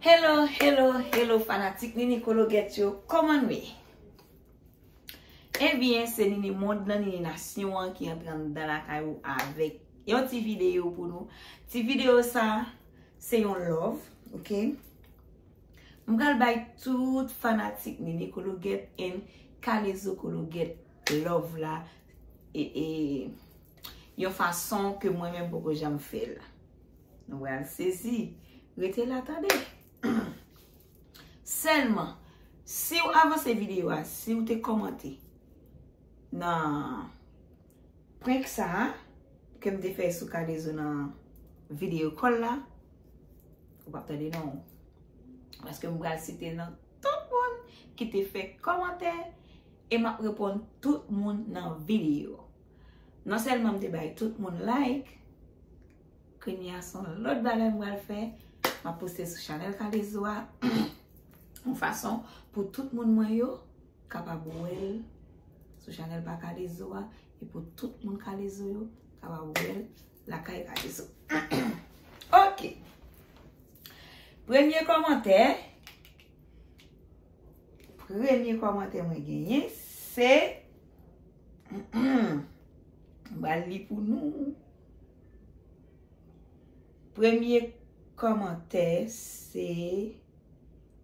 Hello hello hello fanatik nini kologèt yo kòman nou ye Ebyen eh se nini mond nan nini nasyon an ki antre andan lakay ou avèk yon ti video pou nou ti video sa se yon love ok m pral bay tout fanatik nini kologèt en kalezo kologèt love la e e yon fason ke mwen menm poko janm fèl. Nou bral sezi. Rete la tande. Selman, si ou avanse video a, si ou te komante nan prank sa a, ke m te fè sou kalezo nan video kol la, ou pa tande nan ou. Paske m bral site nan tout moun ki te fè komante, e m ap repon tout moun nan video. Non sèlman m te bay tout moun like, kounye a son lòt bagay m pral fè, m ap poste sou chanèl Kalezo a, yon fason pou tout moun mwen yo kapab wè l sou chanèl pa Kalezo a, e pou tout moun Kalezo yo kapab wè l lakay Kalezo. Ok! Premye kòmantè, premye kòmantè mwen genyen, se... Mbral li pou nou. Premye kòmantè se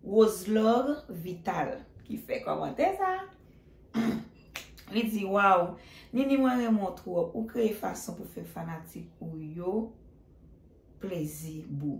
Roselor Vital ki fè kòmantè sa. Li di waw, Nini mwen renmen w twòp. Ou kreye fason pou fè fanatik ou yo plezi boo.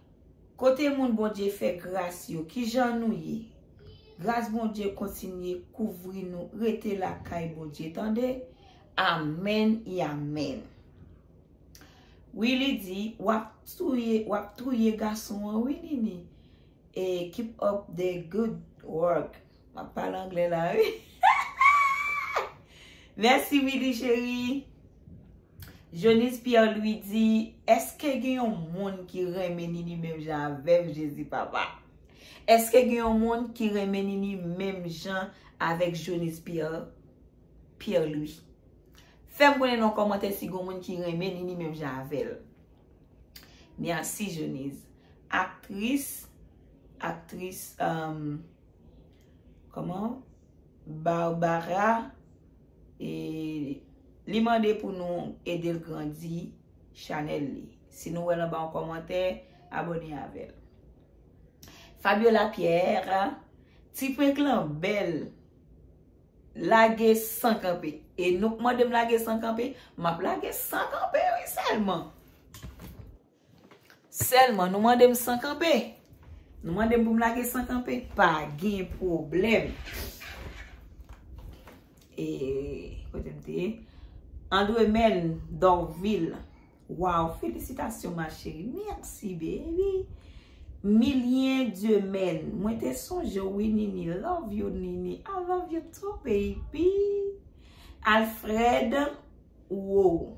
Kote moun Bondye fè gras yo kijan nou ye gras Bondye kontinye kouvri nou rete lakay Bondye tande amèn y amèn wi li di wap touye wap touye gason an wi Nini e keep up the good work. Map pale anglè la wi. Merci Willy chérie. Jonise Pierre Louis di, eske gen yon moun ki renmen Nini menm jan avèm Jezi papa? Eske gen yon moun ki renmen Nini menm jan avèk Jonise Pierre Pierre Louis? Fèm konnen nan kòmantè si gen yon moun ki renmen Nini menm jan avèl. Merci Jonise. Aktris, aktris, emm... Koman? Barbara e li mande pou nou edel grandi chanèl li. Si nou wèl anba yon kòmantè, abone avèl. Fabiola Pierre, ti prank lan bèl. Lage san kanpe. E nou k mandem lage san kanpe, map lage san kanpe wi sèlman. Sèlman, nou mande m san kanpe? Nou mande m pou m lage san kanpe? Pa gen pwoblèm. E, kote m te? Andremèn Dorvil. Waw, felisitasyon ma cheri. Merci baby. Milien Dieumen. Mwen te sonje w wi Nini. Love you Nini. I love you too baby. Alfred Wou.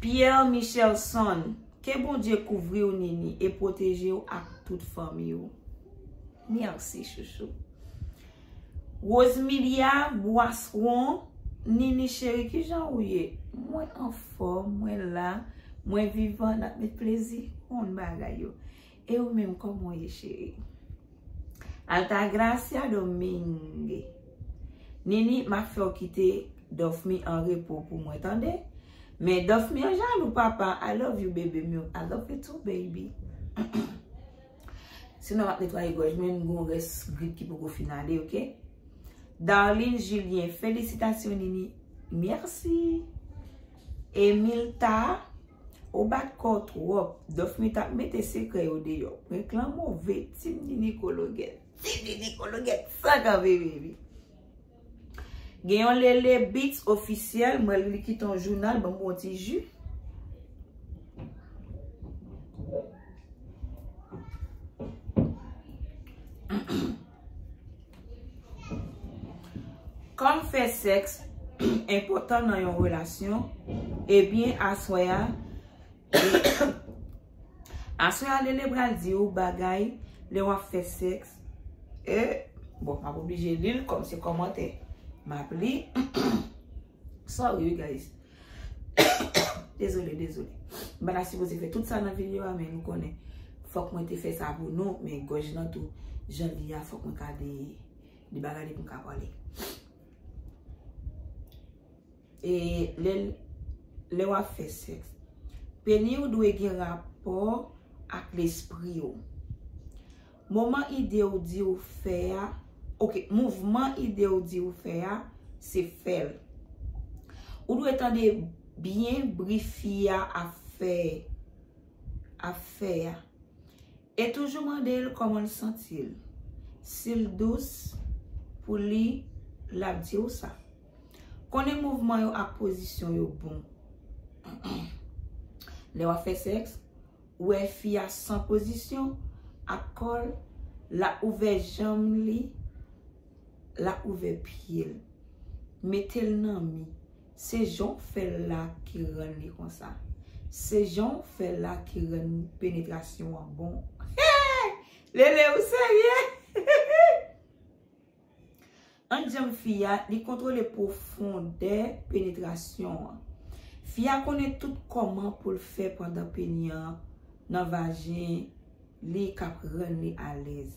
Pierre Michelson Ke Bondye kouvri w Nini e pwoteje w ak tout fanmi w. Merci chouchou. Rosemilia Boisseron Nini cheri kijan ou ye? Mwen anfòm, mwen la, mwen vivan nap met plezi. Bon bagay yo. E ou menm koman w ye cheri? Altagracia Domingue Nini m ap fè w kite Dofmy an repo pou mwen tande Men Dofmy an jalou papa I love you bebe m yo I love you too baby Sinon m ap netwaye gòj mwen m gon rès grip ki poko fin ale ok Darline Julien Felisitasyon Nini Merci Emilta Ou bat kòw twòp. Dofmy tap mete sekrè yo deyò. Prank lan move. Team Nini Kologèt. Team Nini Kologèt san kanpe baby. Gen yon Lele Beats officiel. M wè li kite yon jounal banm yon ti ju. Kòm fè sèks enpòtan nan yon relasyon, ebyen aswè a, aswè a Lele pral di ou bagay lè wap fè sèks, e, bon map oblije li l kòm se kòmantè map li, sorry wi guys. Dezole, dezole. Mwen ta sipoze fè tout sa nan video a men nou konnen. Fòk mwen te fè sa pou nou men gòj nan tou. Jan li a fòk mwen ka de li bagay li pou mwen ka pale. E lè w ap fè sèks. Peni ou dwe gen rapò ak lespri ou. Moman ide ou di ou fè a, ok, mouvman ide ou di ou fè a, se fè l. Ou dwe tande byen bri fi a ap fè, ap fè a. E toujou mande l kòman l santi l. Si l dous pou li, l ap di ou sa. Konnen mouvman yo ak pozisyon yo bon. Lè w ap fè sèks. wè fi a san pozisyon ak kòl la ouvè janm li la ouvè pyel metel nan mi se janw fèl la ki rann li konsa se janw fèl la ki rann penetrasyon an bon hee lele ou serye hihihii. Ant janm fi a, li kontwole pwofondè penetrasyon an. Fi a konnen tout kòman pou l fè pandan peni an nan vajen li k ap rann li alèz.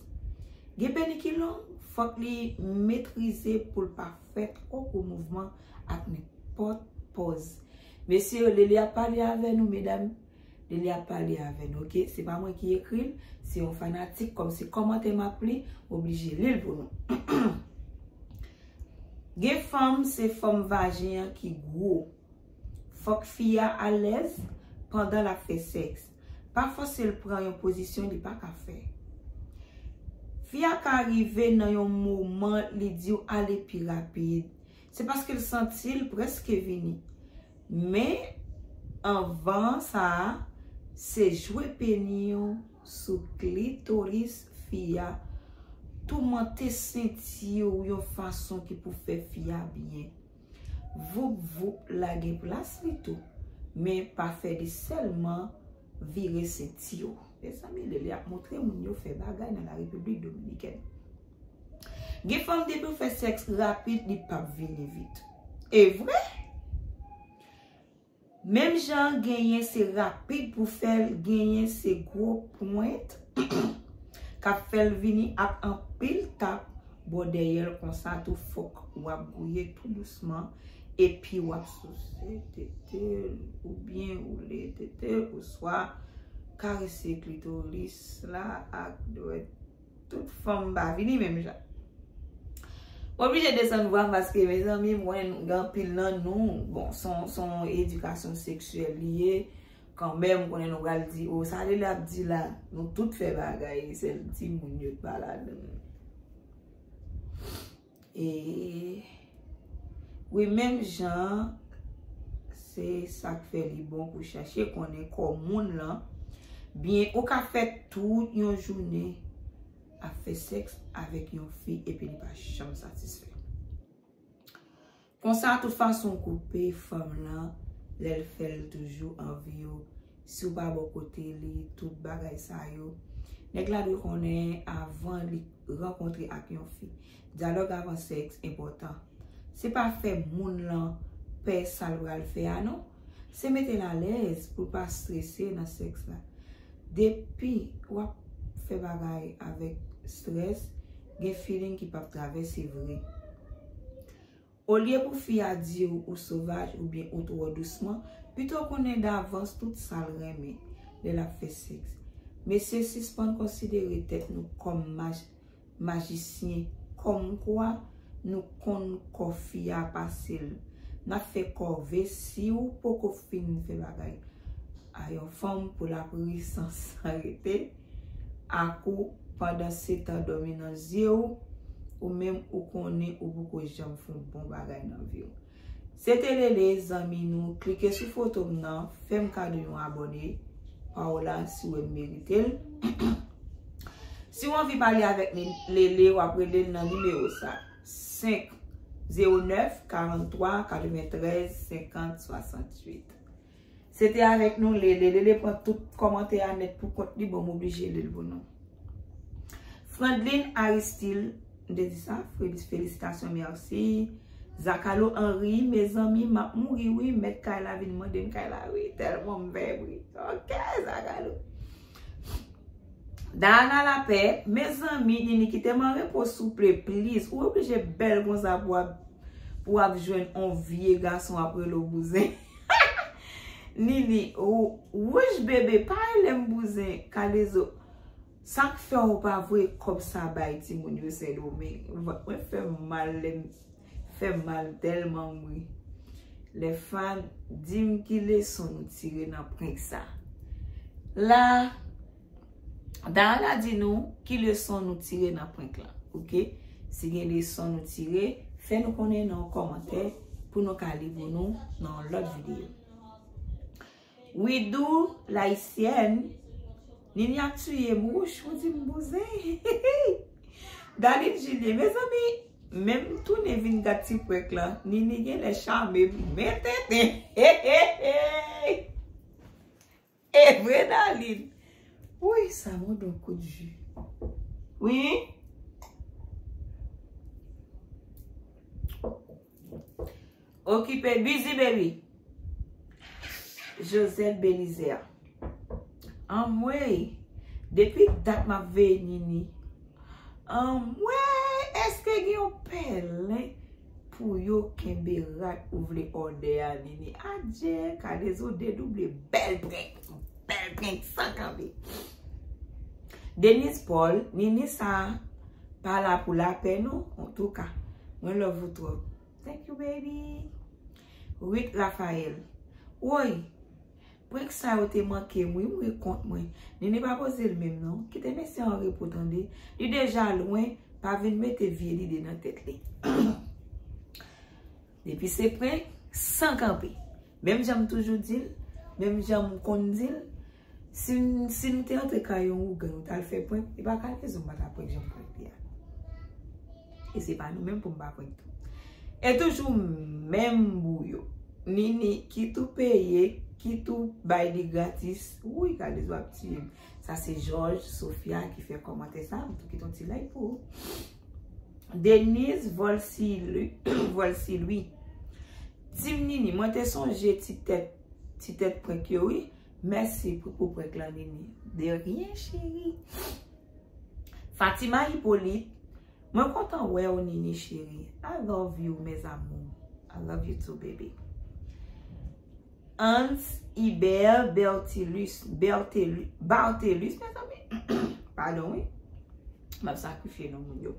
Gen peni ki long, fòk li metrize pou l pa fè twò gwo mouvman ak nenpòt pòz. Mesye yo, Lele ap pale avè nou medam. Li li ap pale avè nou ok. Se pa mwen ki ekri l, se yon fanatik kòm se kòmantè m ap li, m oblije li l pou nou. Gen fanm se fòm vajen an ki gwo. Fòk fi a alèz pandan l ap fè sèks. Pa fòse l pran yon pozisyon li pa ka fè. Fi a ka rive nan yon moman li di w ale pi rapid. Se paske l santi l prèske vini. Men, anvan sa a, se jwe peni yo sou klitoris fi a, toumante senti ou yon fason ki pou fè fi a byen. Voup voup la gen plas li tou, men pa fè li sèlman vire senti yo. Mezanmi Lele ap montre moun yo fè bagay nan la République Dominicaine. Gen fanm depi ou fè sèks rapid li pap vini vit. E vre? Menm jan genyen se rapid pou fèl genyen se gwo pwent kap fèl vini ak anpil tap bò dèyèl konsa tou fòk wap gouye tou dousman. Epi w ap souse tete l oubyen woule tete l oswa karese klitoris la ak dwèt. Tout fanm pa vini menm jan. Mwen oblije desann vwa m paske mezanmi m konnen gen anpil nan nou, bon s on edikasyon seksyèl li ye kanmenm m konnen nou pral di o sa Lele ap di la nou tout fè bagay sèl timoun yo k pa ladan l. Eeeeh wi menm jan se sak fè li bon pou chache konnen kò moun lan byen ou ka fè tout yon jounen ap fè sèks avèk yon fi epi li pa janm satisfè. Konsa tout fason koupe fanm lan lèl fèl toujou anvi yo siw pa bò kote li tout bagay sa yo nèg la dwe konnen avan li rankontre ak yon fi dyalòg avan sèks enpòtan se pa fè moun lan pè sal pral fè a non se metel alèz poul pa strese nan sèks la depi wap fè bagay avèk strès gen feeling ki pap travèse vre. Olye pou fi a di w ou sovaj oubyen ou twò dousman, pito konnen davans tout sa l renmen lè l ap fè sèks. Mesye sispann konsidere tèt nou kòm majisyen kòmkwa nou konn kò fi a pase l. N ap fè kòve si w poko fin fè bagay. A yon fanm pou lap ri san san rete ak ou pandan setan dòmi nan zye ou ou menm ou konnen ou poko janm fon bon bagay nan viw. Se te Lele zanmi nou klike sou fotom nan fèm kado yon abòne Paola si wèm meritel siw anvi pale avèk Lele wap relel nan nimewo sa 5 0 9 43 93 50 68. Se te avèk nou Lele. Lele pran tout kòmantè a nèt pou kont li bon m oblije li l pou nou. Frandline Aristil m te di sa? Fredis Felisitasyon merci. Zakalo Henri Mezanmi m ap mouri wi mèt kay la vin mande m kay la wi tèlman m fèb ri Ok Zakalo Dahana Lapè Mezanmi Nini kite m an repo souple please ou oblije bèl konsa pou w ap pou w ap jwenn on vye gason ap rele w bouzen. Nini wouch bebe pa relem bouzen kalezo sak fè ou pa voye kob sa bay timoun yo sendomeng mwen fem mal lem fem mal telman m ri le fan dim ki leson nou tire nan prank sa la. Darana di nou ki leson nou tire nan prank lan ok si gen leson nou tire fè nou konnen nan yon kòmantè pou nou ka li pou nou nan yon lòt videyo Widoo l'ayisyèn Ninie ap tuye m wouch ou di m bouzen hihihii Darline Julien mezanmi menm tounen vin gad ti prank lan Ninie genlè chame m men tenten heheheeii. Evre darline. Wouyy sa bon don kout ju wi. Okipe busy baby. Josette Belizaire. Anmweyy. Depi dat map veye Nini. Anmweyy eske gen yon pèlen pou yo kenbe rad ou vle òdè a vini adje kalezo dedouble bèl prenk bèl prenk san kanpe Denise Paul nini sa pa la pou lapè non antouka mwen love ou twòp thank you baby Ruth Raphael woyy Prank sa yo te mankem wi m ri kont mwen. Nini pa pozel menm non. Kite mesye an repo tande. Li deja lwen, pa vin mete vye lide nan tèt li. Depi se prank, san kanpe. Menm janm toujou dil, menm janm konn dil, si nou te antre kay yon ougan nou tal fè prank, li pa kalezon m pata prank janm prank li a. E se pa nou menm pou m pa prank tou. E toujou menm bou yo. Nini ki tou peye, ki tou bay li gratis. Wouyy Kalezo ap tiye m. Sa se Joj, Sofia ki fè komante sa. Mwen tou kite yon ti like pou ou. Denise Volsilui. Team Nini, mwen te sonje ti tèt, ti tèt prank yo wi. Mèsi pou prank lan Nini. De rien cheri. Fatima Hyppolite Mwen kontan wè ou Nini cheri I love you mes amours I love you too baby Hans Hibert Bertilus Bertelus Bartelus mezanmi Pardon wi Map sakrifye non moun yo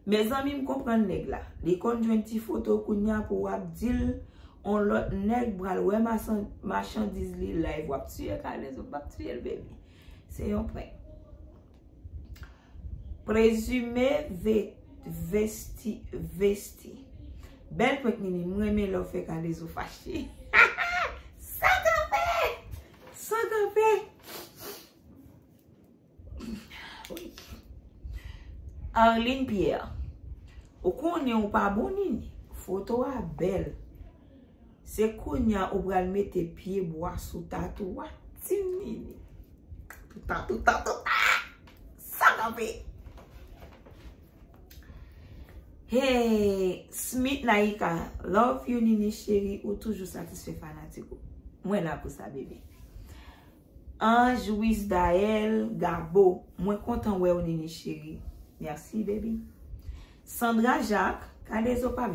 Mezanmi m konprann nèg la Li konn jwenn ti foto kounya pou wap dil On lòt nèg pral wè machandiz li live Wap tiye kalezo Map tiyel baby Se yon prank. Prezime vesti vesti. Bel prank nini. M renmen lè w fè kalezo fache. Sa kanpe. Sa kanpe. Arline Pierre. Ou konnen ou pa bon nini. Foto a bel. Se kounya ou pral mete pye bwa sou tatou a ti nini. Touta touta touta sa kanpe. Hey Smith Naika love you nini cheri ou toujou satisfè fanatik ou. Mwen la pou sa bebe. Ange Wisdaël Gabo mwen kontan wèw Nini chérie merci baby Sandra Jacques K-dezo pap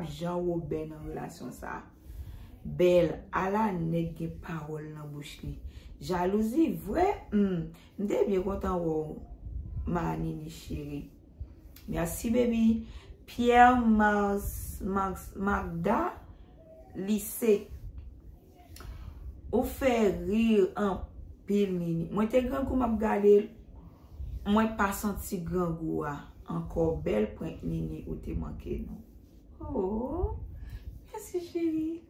jan Robin nan relasyon sa bèl ala nèg gen pawòl nan bouch li jalouzi vre humm m te byen kontan wèw ma Nini chérie merci baby Pierre Magda Lise. Ou fè rir anpil Nini. Mwen te grangou map gadel mwen pa santi grangou a ankò bèl prank Nini ou te manke nou. Ooh mèsi cheri.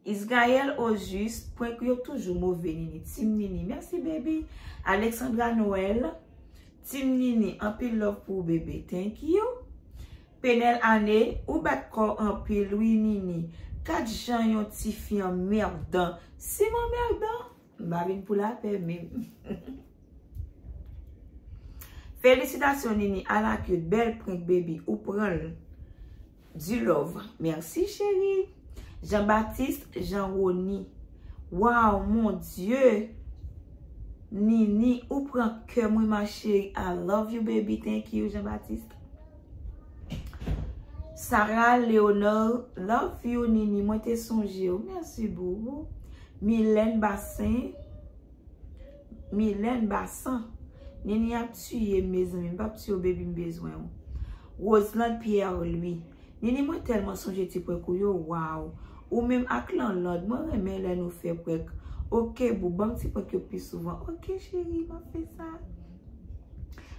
Israel Ojus prank ou yo toujou move Nini team Nini mèsi baby. Alexandra Noël team Nini anpil love pou ou bebe thank you. Penel Ane ou bat kòw anpil wi Nini Gad jan yon tifi anmerdan Sim anmerdan m pa vin pou lapè menm Felisitasyon Nini ala cute bèl prank baby ou pranl Du love merci cheri Jean Baptiste Jean Rony Waww mon Dieu Nini ou pran kèm wi ma cheri I love you baby thank you Jean Baptiste. Sarah Leonard love you Nini mwen te sonje w merci boo Milène Bassin Milène Bassin Nini ap tuye m mezanmi m pap tuye w baby m bezwen w Roselande Pierre Louis Nini mwen telman sonje ti prank ou yo waw ou menm ak Lanlande mwen renmen lè nou fè prank ok boo banm ti prank yo pi souvan ok cheri map fè sa.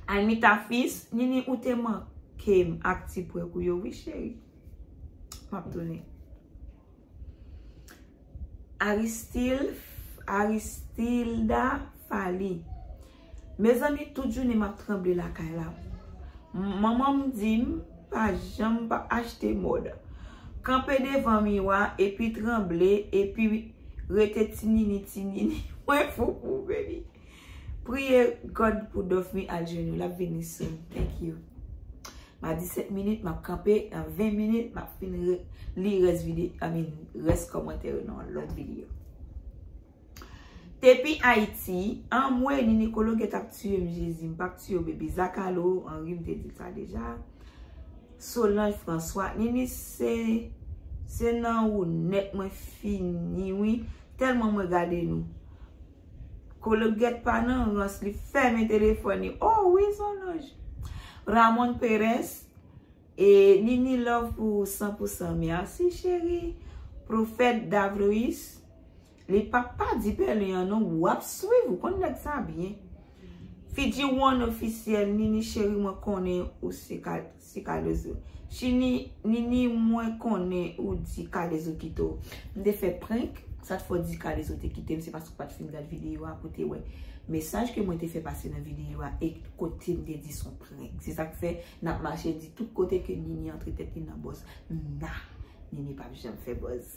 Almita fils, Nini ou te mankem ak ti prank ou yo wi cheri. Map tounen. Aristil, Aristilda Fally, Mezanmi tout jounen map tranble lakay la. Manmanm dim pa janm pa achte mòd. Kanpe devan miwa epi tranble epi rete ti nini ti nini. Mwen fou pou ou baby. Priye God pou Dofmy al jwenn ou lap vini soon thank you ma 17 minit map kanpe nan 20 minit map fin li res vide I mean res komantè yo nan yon lot video Depi Haiti anmweyy Nini Kolo gèt ap tiyem Jezi m pap tiyew baby Zakalo Henry m te dil sa deja Solange François Nini se se nan ou nèt mwen fini wi tèlman mwen gade nou. Kologèt pa nan rans li fèmen telefòn li oh wi Zòlòj. Ramon Perez e Nini love pou ou san pou san merci chérie. Prophète Davrois li pap pa di pèlen an non wap swiv ou konn nèg sa byen. Fidji one officiel Nini chérie mwen konnen ou se kal. Se kalezo. Chini, Nini mwen konnen ou di kalezo kite w. M te fè prank, sa t fè w di kalezo te kite m se paske w pat fin gad videyo a pou w te wè mesaj ke mwen te fè pase nan videyo a e kote m te di son prank. Se sak fè n ap mache di tout kote ke Nini antre tèt li nan bòz. Nan! Nini pap janm fè bòz.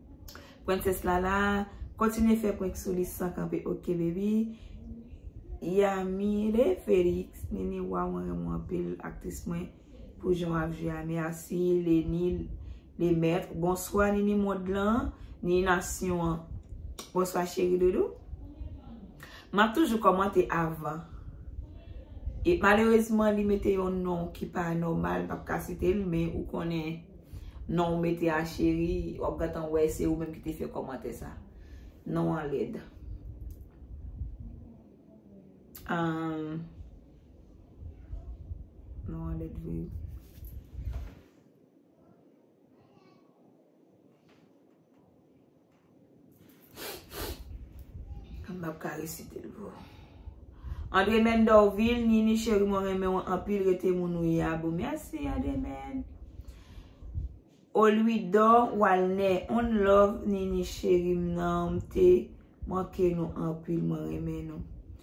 Princess Lala kontinye fè prank sou li san kanpe ok baby Yamile Felix Nini waw mwen renmen w anpil aktris mwen pou jan wap jwe a merci Leni le maitre bonswa Nini mond lan Nini nasyon an bonswa cheri doudou map toujou komante avan e malerezman li mete yon non ki pa normal m pap ka site l men ou konnen. Non ou mete a cheri, wap gentan wè se ou menm ki te fè kòmantè sa. Non an lèd. Ahh. Non an lèd vre wi. Andre men do vil Nini cheri mwen renmen ou anpil rete moun ou ye a boo merci Andre men Olwido walne on love Nini cheri m nan m te manke nou anpil mwen renmen nou.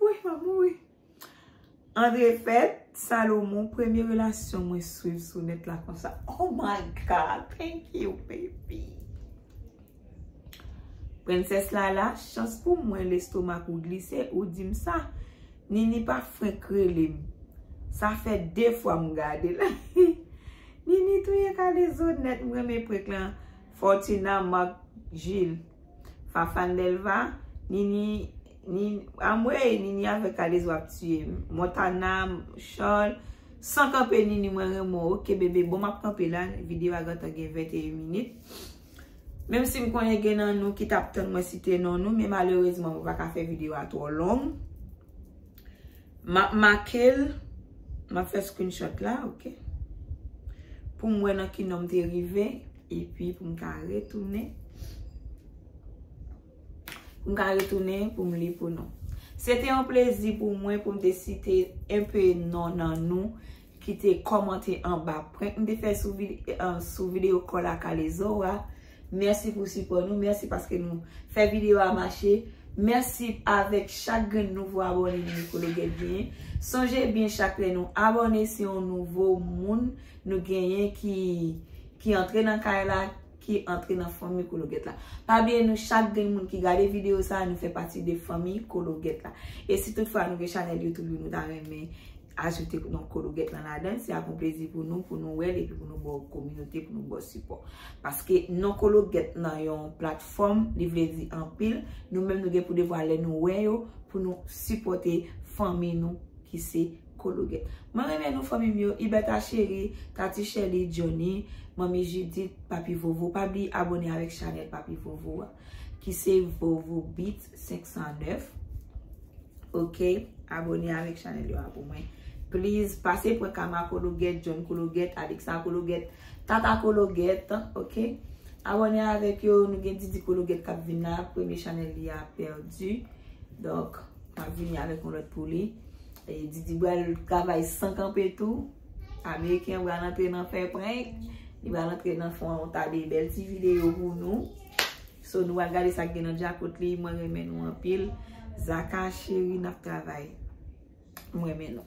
Wouyy map mouri. Andre Fèt Salomon premye relasyon mwen swiv sou nèt la konsa. Oh my God! Thank you baby. Princess Lala, chans pou mwen lestomak ou glise ou di m sa. Nini pa frenk rele m. Sa fè 2 fwa m gade l. Nini touye kalezo nèt m renmen prank lan. Fortuna Marc Gilles, Fafane Delva, Nini Anmweyy nini avèk alez wap tiyem. Montana charles San kanpe nini mwen renmen w ok bebe bon map kanpe la video a gentan gen 21 minit menm sim konnen gen nan nou ki tap tann mwen site non nou men malerezman mwen paka fè video a twò long map makel map fè screenshot la ok poum wè nan ki nom te rive epi poum ka retounen M ka retounen pou m li pou nou. Se te yon plezi pou mwen pou m te site enpe non nan nou ki te kòmante anba prank m te fè sou videyo kòl a kalezo a. Mèsi pou sipò nou. Mèsi paske nou fè videyo a mache. Mèsi avèk chak grenn nouvo abòne nou ke nou gen genyen. Sonje byen chak lè nou abòne se yon nouvo moun nou genyen ki antre nan kay la. ki antre nan fanmi kologèt la. Pa bliye nou chak gen moun ki gade video sa a nou fè pati de fanmi kologèt la. E si tout fwa nou gen chanèl youtube nou ta renmen ajoute non kologèt lan ladan, se ap yon plezi pou nou, pou nou wè l epi pou nou ba w kominote, pou nou ba w sipò. Paske non kologèt nan yon platfòm li vle di anpil, nou menm nou gen pou devwa lè nou wè yo pou nou sipòte fanmi nou ki se. Kologe. Mwen renmen nou fanmi m yo, Ibertha Cherie, Tati Shelly, Johnny, Manmi Judith, Papi Vovo. Pa bliye abone avèk chanèl Papi Vovo a ki se Vovo Beat 509. Ok, abone avèk chanèl yo a pou mwen. Please, pase pran Kama Kologet, John Kologet, Alexa Kologet, Tata Kologet. Ok, abone avèk yo. Nou gen Didi Kologet k ap vin la. Premye chanèl li a pèdi. Donk, m ap vini avèk yon lòt pou li. Didi bal travay san kanpe tou. Ameriken bal antre nan fè prank. Li bal antre nan fon yon ta de bel ti video pou nou. So nou al gade sak gen nan djakot li. Mwen remen nou anpil. Zaka cheri nap travay. Mwen remen nou.